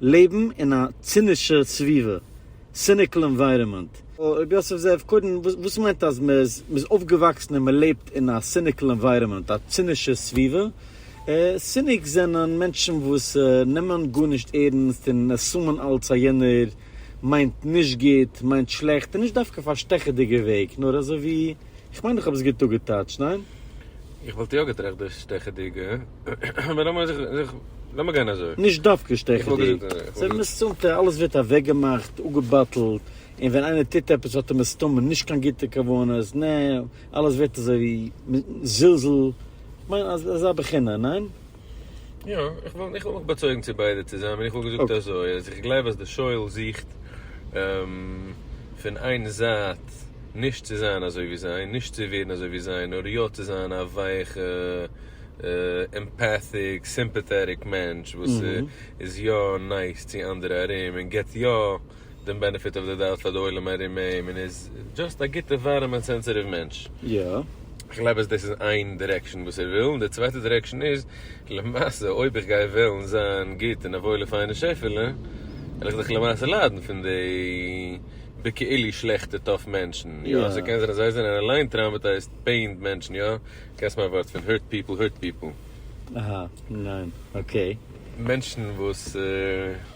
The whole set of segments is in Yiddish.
לעבן אין א צינישע סביבה, סיניקיל ענווייראמענט. ר' יוסף זאב, קודם, וואס מיינט אז מען איז אויפגעוואקסן און מען לעבט אין א סיניקיל ענווייראמענט, א צינישע סביבה? סיניק זענען מענטשן וואס נעמען גארנישט ערנסט און עסומן אלץ אז יענער מיינט נישט גוט, מיינט שלעכט, און נישט דווקא אויף א שטעכעדיגע וועג, נאר אזוי ווי, איך מיין איך האב עס גוט אפגעטייטשט, ניין? איך וואלט יא געטראכט דאס שטעכעדיגע, אבער לאמיר זיך, זיך, לאמיר גיין אזוי. נישט דווקא שטעכעדיג. זענען מסתמתע, אלעס ווערט אוועקגעמאכט, אפגעבאטלט, און ווען איינער טוט עפעס האט ער מסתמא נישט קיין גוטע כוונות, נע, אלעס ווערט אזוי ווי זלזול, כ'מיין אזא בחינה, ניין? יא, איך וואלט איך וואלט מיך באצויגן צו ביידע צוזאמען, איך וואלט געזאגט אזוי אז איך גלייב אז די שואל זוכט פון איין זייט נישט צו זיין אזוי ווי זיי, נישט צו ווערן אזוי ווי זיי, נאר יא צו זיין א ווייכע עמפאטיק סימפאטעטיק מענטש וואס איז יא נייס צו אנדערע ארום און געבט יא דעם בענעפיט אוו די דאוט פאר די עולם ארום אים און איז דזשאסט א גוטע ווארעמע און סענסעטיוו מענטש. יא. כ'גלייב אז דאס איז איין דירעקשאן וואס ער וויל, און די צווייטע דירעקשאן איז, למעשה אויב איך גיי וועלן זיין גוט און א וואוילע פיינע שעפעלע, וועל איך דאך למעשה ליידן פון די בכאילו שלעכטע טאף מענטשן, יא? סאו קען זיין אז זיי זענען אליין טראומעטייזד פעינד מענטשן, יא? קענסט מיין ווארט פון hurt people hurt people. אהא, ניין, אקעי. מענטשן וואס.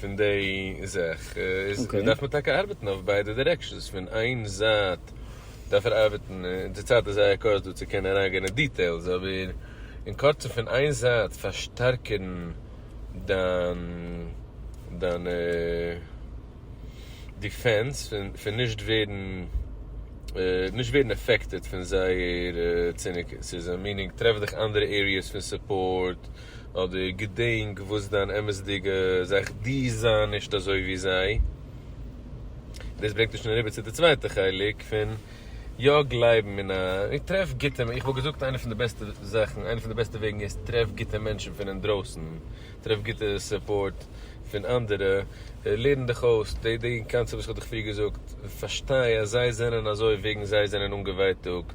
פון די זאך איז מ'דארף מען טאקע ארבעטן אויף ביידע דירעקשאנס, פון איין זייט דארף ער ארבעטן, און די צייט איז זייער קורץ דא צו קענען אריינגיין אין דיטעילס, אבער אין קורצן פון איין זייט פארשטארקערן דיין דיין דיפענס פון נישט ווערן נישט ווערן אפעקטעד פון זייער ציניקות, מיענינג טרעף דיך אנדערע עריעס פון סופארט, אדער געדענק וואס דיין אמת'דיגע זאך דו זיי נישט אזוי ווי זיי. דאס ברענגט אונז שוין אריבער צו די צווייטע חלק פון יא גלייבן אין א, טרעף גוטע, איך וואלט געזאגט איינע פון די בעסטע זאכן, איינע פון די בעסטע וועגן איז טרעף גוטע מענטשן פון אינדרויסן, טרעף גוטע סופארט פון אנדערע, לערן דיך אויס, די די קאנצעפט וואס איך האב דיך פריער געזאגט, פארשטיי אז זיי זענען אזוי וועגן זיי זענען אנגעווייטאגט.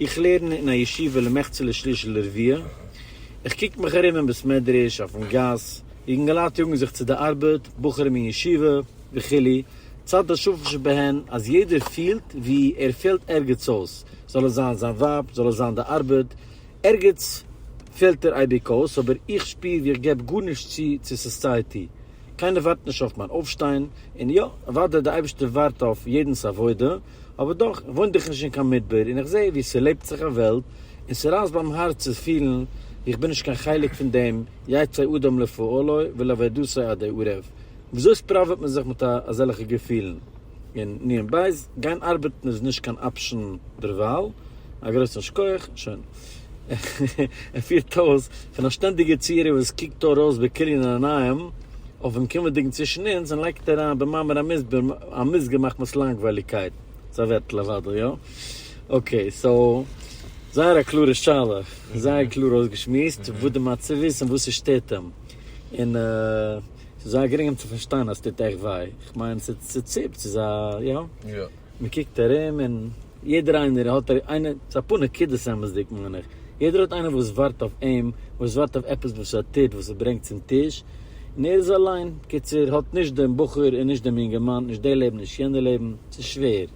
איך לערן אין א ישיבה למחצה לשליש ולרביע, איך קוק מיך ארום אין בית מדרש, אויפן גאס, יונגעלייט יאגן זיך צו די ארבעט, בחורים אין ישיבה, וכו', צד השפל שבהן אז יעדער פילט ווי ער פעלט ערגעץ אויס, זאל עס זיין זיין ווייב, זאל עס זיין די ארבעט, ערגעץ פעלט ער אייביג אויס, אבער איך שפיר ווי איך געב גארנישט צו צו סאסייעטי, קיינער ווארט נישט אויף מיין אויפשטיין, און יא, אוודאי די אייבערשטער ווארט אויף יעדנ'ס עבודה, אבער דאך וואוינט איך נישט אין קיין מדבר און איך זעה ווי ס'לעבט זיך א וועלט און ס'רייסט ביים הארץ צו פילן ווי איך בין נישט קיין חלק פון דעם יצא אדם לפעלו ולעבודתו עדי ערב. וויאזוי ספראוועט מען זיך מיט אזעלכע געפילן? און ניין בייז, גיין ארבעטן איז נישט קיין אפשן דערווייל, א גרויסן שכוח, שוין. ער פירט אויס פון א שטענדיגע צירוף וואס קוקט אור אויס בכליון עיניים אויפן קומענדיגן צווישן אונז און לייגט אריין במאמר המוסבר א מוסגר מחמת לאנגווייליגקייט. ס'איז א ווערטל אוודאי, יא? אקעי, סאו, זייער א קלארע שאלה, און זייער קלאר אויסגעשמועסט וואס די מצב איז און וואס ס'שטערט אים. און ס'איז זייער גרינג אים צו פארשטיין אז ס'טוט עכט וויי. כ'מיין, ס'ציפט, ס'איז א, יא? מען קוקט ארום און יעדער איינער האט איינער, ס'איז אפאר נקודות אמת'דיג מיין איך, יעדער האט איינער וואס ווארט אויף אים, וואס ווארט אויף עפעס וואס ער טוט וואס ער ברענגט צום טיש, און ער איז אליין, קיצור האט נישט דעם בחור און נישט דעם אינגערמאן, נישט די לעבן נישט יענע לעבן, ס'איז שווער,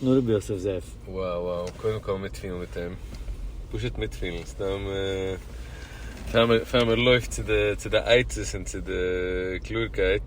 נאר רבי יוסף זאב. Wow wow, קודם כל מיטפילן מיט אים, פשוט מיטפילן, סתם פאר מען לויפט צו די עצות און צו די קלארקייט.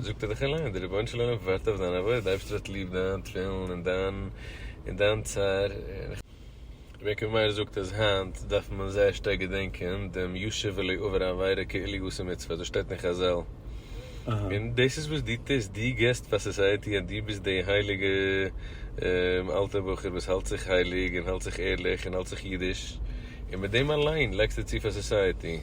זאגט ער דאך אליין, דער רבונו של עולם ווארט אויף דיין עבודה, די אייבערשטער האט ליב דיין תפילין און דיין און דיין צער, רבי עקיבא מאיר זאגט אז היינט דארף מען זייער שטארק געדענקען דעם ישוב ולא יעבור עבירה כאילו היא עושה מצוה, דאס שטייט אין חזל, און דאס איז וואס דו טוסט, דו גיבסט פאר סאסייעטי אז דו ביסט די הייליגע אלטע בחור וואס האלט זיך הייליג און האלט זיך ערליך און האלט זיך אידיש, און מיט דעם אליין לייגסטו צו פאר סאסייעטי.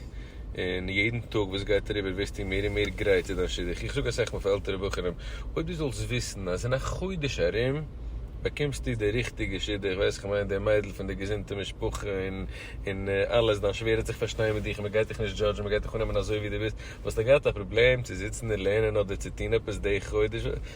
און יעדן טאג וואס גייט אריבער ווערסטו מער און מער גרייט צו דיין שידוך, איך זאג אסאך מאל פאר עלטערע בחורים, אויב דו זאלסט וויסן אז אין א חודש ארום באקומסטו די ריכטיגע שידוך, ווייס איך מיין די מיידל פון די געזונטע משפחה און און אלעס, דיין שווער העט זיך פארשטיין מיט דיך, מען גייט דיך נישט דזשאדזשן, מען גייט דיך אננעמען אזוי ווי דו ביסט, וואלסטו געהאט א פראבלעם צו זיצן און לערנען אדער צו טון עפעס די חודש?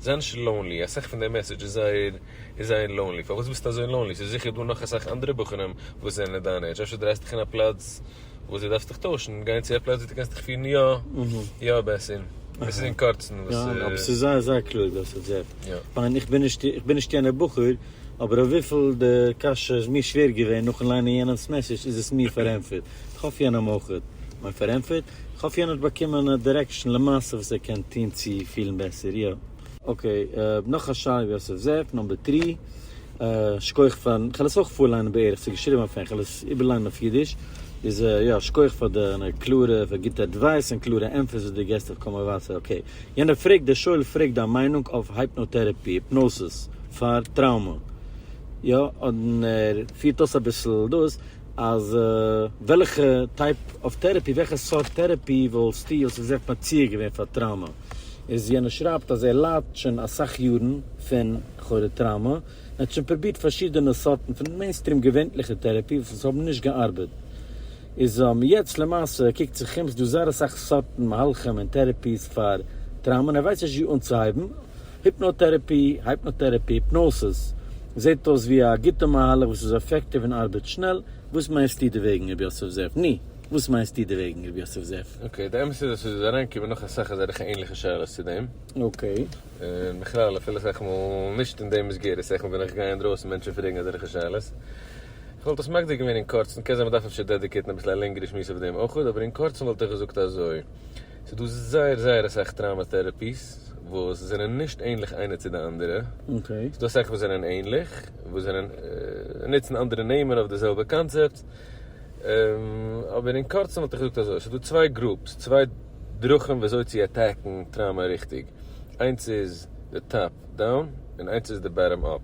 זענט'ס לאונלי, אסאך פון די מעסעדזש איז זייער איז זייער לאונלי, פארוואס ביסטו אזוי לאונלי? ס'איז זיכער דא נאך אסאך אנדערע בחורים וואס זענען אין דיין עידזש, אפשר דרייסט דיך אין א פלאץ וואס דו דארפסט דיך טוישן, גיין צו א פלאץ וואס דו קענסט דיך פירן יא יא בעסער. עס איז אין קורצן וואס. ניין, אבער ס'איז זייער זייער קלוג דאס האט זי ערפ. יא. כ'מיין איך בין נישט איך בין נישט יענער בחור, אבער אויף וויפיל די קשיא איז מיר שווער געווען נאכן ליינען יענעמ'ס מעסעדזש איז עס מיר פארענטפערט. כ'האף יענער האט אויך מיין פארענטפערט. כ'האף יענער האט באקומען א דירעקשאן למעשה וואס ער קען טון צו פילן בעסער, יא. אקעי, נאך א שאלה ווי יוסף זאב, נאמבער טרי. שקויעך פארן, כ'על עס אויך פארליינען בערך, ס'איז געשריבען אויף ענגליש, כ'על עס איבערליינען אויף אידיש. איז יא, שקויעך פאר דיינע קלארע, פאר גוטע עדווייס און קלארע ענטפערס וואס דו געסט אויף קאמאו וואסער. אקעי, יענער פרעגט, דער שואל פרעגט דיין מיינונג אויף הייפנאטערעפי, היפנאסיס, פאר טראומא. יא, און ער פירט אויס אביסל דאס, אז וועלכע טייפ אוו טערעפי, וועלכע סארט טערעפי וואלסטו וואלסטו געזעגט מציע געווען פאר טראומא? איז יענער שרייבט אז ער ליידט שוין אסאך יארן פון לכאורה טראומא, און האט שוין פרובירט פארשידענע סארטן פון מעינסטרים געווענליכע טערעפי וואס עס האבן נישט געארבעט, איז יעצט למעשה קוקט זיך אום ס'איז דא זייער אסאך סארטן מהלכים און טערעפיס פאר טראומא און ער ווייסט נישט וואו אנצוהייבן. היפנאטערעפי, Hypnotherapy, היפנאסיס, זעט אויס ווי א גוטע מהלך וואס איז אפעקטיוו און ארבעט שנעל, וואס מיינסטו דערוועגן ר' יוסף זאב? ני, וואס מיינסטו דערוועגן ר' יוסף זאב? אקעי, די אמת איז אז עס איז אריינגעקומען נאך אסאך אזעלכע ענליכע שאלות צו דעם. אקעי. און בכלל אפילו אסאך מאל נישט אין די מסגרת, אסאך מאל ווען איך גיי אינדרויסן מענטשן פרעגן אזעלכע שאלות. איך וואלט עס מגדיר געווען אין קורצן, קען זיין מען דארף אפשר דעדיקעיטן אביסל א לענגערע שמועס אויף דעם אויך, אבער אין קורצן וואלט איך געזאגט אזוי. ס'איז דא זייער זייער אסאך טראומא טעראפיס וואס זענען נישט ענליך איינע צו די אנדערע. ס'איז דא אסאך וואס זענען ענליך, וואס זענען נוצן אנדערע נעמען אויף די זעלבע קאנצעפט. אבער אין קורצן וואלט איך געזאגט אזוי, ס'איז דא צוויי גרופס, צוויי דרכים ווי אזוי צו עטעקן טראומא ריכטיג. איינס איז די טאפ דאון, און איינס איז די באטאם אפ.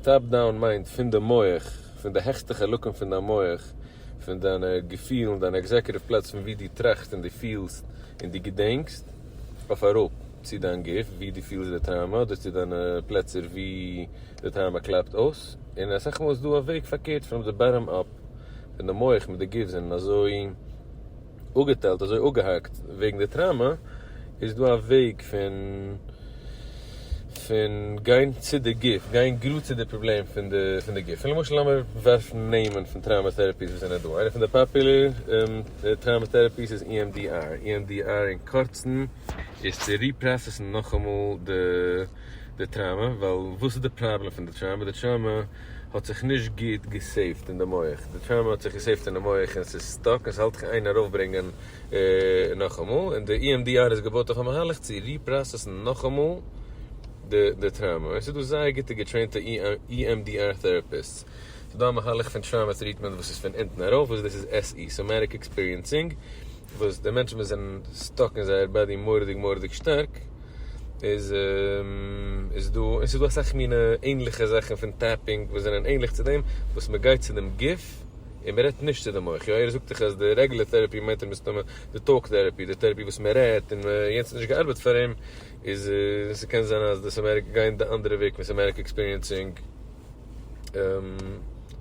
טאפ דאון מיינט פון די מח, פון די העכסטע חלקים פון דיין מח, פון דיינע געפילן, דיינע עקזעקוטיוו פלעץ פון וואו דו טראכסט און דו פילסט און דו געדענקסט, אויף אראפ צו דיין גוף וואו דו פילסט די טראומא אדער צו דיינע פלעצער וואו די טראומא קלאפט אויס, און אסאך מאל איז דא א וועג פארקערט פון די באטאם אפ, פון די מח מיט די גוף זענען אזוי. אפגעטיילט אזוי אפגעהאקט וועגן די טראמא איז דא א וועג פון פון גיין צו די גוף גיין גראד צו די פראבלעם פון די פון די גוף למשל לאמיר ווערפן נעמען פון טראמא טערעפיס וואס זענען דא איינע פון די פאפולער טראמא טערעפיס איז EMDR EMDR אין קורצן איז צו ריפראסעסן נאכאמאל די די טראמא ווייל וואס איז די פראבלעם פון די טראמא די טראמא האט זיך נישט גוט געסעיווט אין די מח, די טראומע האט זיך געסעיווט אין די מח און ס'איז סטאק און ס'האלט קיין ארויפברענגען נאכאמאל, און די EMDR איז געבויט אויף א מהלך צו ריפראסעסן נאכאמאל די די טראומע, און ס'איז דא זייער גוטע געטרעינטע EMDR טעראפיסטס, ס'איז דא א מהלך פון טראומע טריטמענט וואס איז פון אונטן ארויף וואס דאס איז SE, Somatic Experiencing, וואס די מענטשן וואס זענען סטאק אין זייער באדי מורא'דיג מורא'דיג שטארק איז איז דא, און ס'איז דא אסאך מינע ענליכע זאכן פון טעפינג וואס זענען ענליך צו דעם, וואס מען גייט צו דעם גוף און מען רעדט נישט צו די מח, יא ער זאגט דיך אז די רעגולער טערעפי מיינט ער מסתמא די טאלק טערעפי, די טערעפי וואס מען רעדט און יענץ האט נישט געארבעט פאר אים, איז ס'קען זיין אז דאס אמעריקע גייען די אנדערע וועג פון סאמעטיק עקספיריענסינג.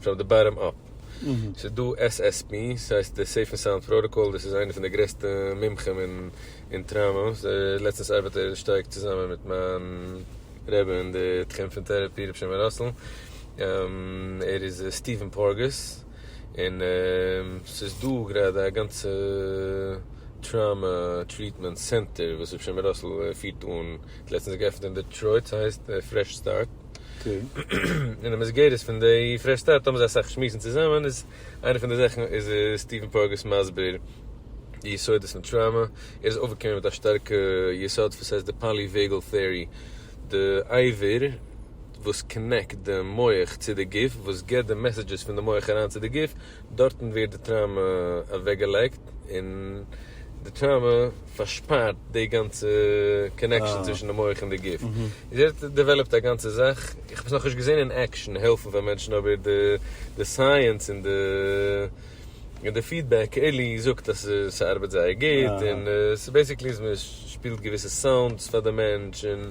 פראם די באטאם אפ. ס'איז דא SSP, ס'הייסט די סעיף ענד סאונד פראטאקאל, דאס איז איינער פון די גרעסטע מומחים אין טראמא, לעצטנס ארבעט ער שטארק צוזאמען מיט מיין רבי אין די תחום פון טעראפי רבי שמעון ראסל, ער איז סטיווען פארגעס, און ס'איז דא גראדע א גאנצע טראמא טריטמענט סענטער וואס רבי שמעון ראסל פירט אן, לעצטנס געעפנט אין דעטרויט, ס'הייסט פרעש סטארט. און אין מסגרת פון די פרעש סטארט האבן זיי אסאך שמועסן צוזאמען איז איינע פון די זאכן איז סטיווען פארגעס מסביר די יסודות פון טראומא ער איז אויפגעקומען מיט א שטארקע יסוד וואס הייסט די פאליוועגעל טעארי די אייווער וואס קאנעקט די מח צו די גוף וואס גיבט די מעסעדזשעס פון די מח אריין צו די גוף. דארטן ווערט די טראומע אוועקגעלייגט און די טראומע פארשפארט די גאנצע קאנעקשאן צווישן די מח און די גוף. און דארט דעוועלאפט א גאנצע זאך, איך האב עס נאכנישט געזען אין עקשאן העלפן פאר מענטשן אבער די סייענס און די פידבעק עלי זאגט אז ס'ארבעט זייער גוט און ס'בעסיקלי אז מ'שפילט געוויסע סאונדס פאר די מענטש און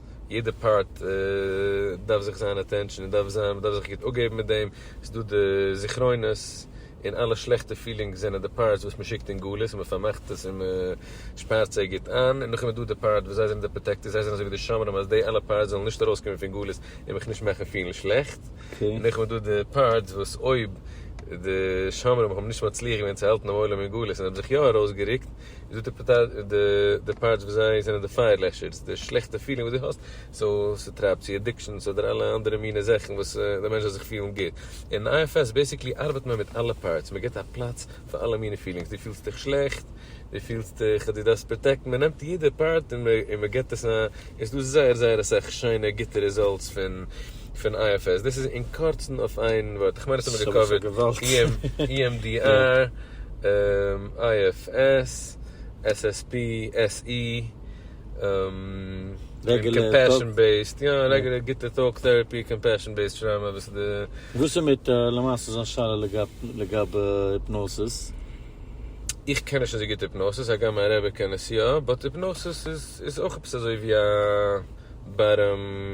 יעדע פארט דארף זיך זיין אטענשאן און דארף זיין מ'דארף זיך גוט אפגעבן מיט דעם, ס'איז דא די זכרונות און אלע שלעכטע פילינגס זענען די פארטס וואס מ'שיקט אין גלות און מ'פארמאכט עס און מ'שפארט זיי גוט איין, און נאכדעם איז דא די פארט וואס זיי זענען די פראטעקטערס זיי זענען אזויווי די שומרים אז די אלע פארטס זאלן נישט ארויסקומען פון גלות און מיך נישט מאכן פילן שלעכט, און נאכדעם איז דא די פארטס וואס אויב די שומרים האבן נישט מצליח געווען צו האלטן דעם עולם אין גלות און האבן זיך יא ארויסגערוקט איז דא די די פארטס וואס זיי זענען די פייער לעשערס, די שלעכטע פילינג וואס דו האסט, סאו ס'טרייבט צו אדיקשאנס אדער אלע אנדערע מיני זאכן וואס די מענטש זאל זיך פילן גוט, אין IFS בעסיקלי ארבעט מען מיט אלע פארטס, מען גיבט א פלאץ פאר אלע מיני פילינגס, דו פילסט דיך שלעכט, דו פילסט דיך אז דו דארפסט פראטעקטן, מען נעמט יעדע פארט און מען גיבט עס א, עס איז דא זייער זייער אסאך שיינע גוטע רעזאלטס פון. פון IFS, דאס איז אין קורצן אויף איין ווארט, איך מיין אונז האבן געקאווערט EMDR, IFS, SSP, SE, קאמפעשאן בעיסד, יא, רעגולער גוטע טאלק טעראפי, קאמפעשאן בעיסד טראומא, וואס איז די. וואס איז מיט למעשה זיין שאלה לגבי היפנאסיס? איך קען נישט אזוי גוט היפנאסיס, הגם מיין רבי קען עס יא, באט היפנאסיס איז אויך עפעס אזוי ווי א בארעם.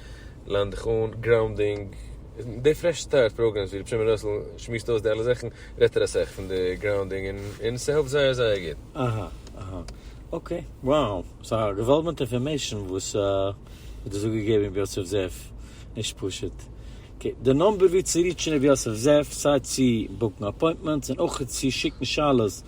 לאנד דיך אן, גראונדינג, די פרעש סטארט פראגרעמס ווי ר' שמעון ראסל שמועסט אויס די אלע זאכן רעדט ער אסאך פון די גראונדינג און און ס'העלפט זייער זייער גוט. אהא אהא אקעי wow ס'א געוואלדמענט אינפארמעישאן וואס האט דאס אפגעגעבן ר' יוסף זאב נישט פשוט. אקעי די נומבער ווי צו ריטשן ר' יוסף זאב סיי צו בוקן אפוינטמענטס און אויך צו שיקן שאלות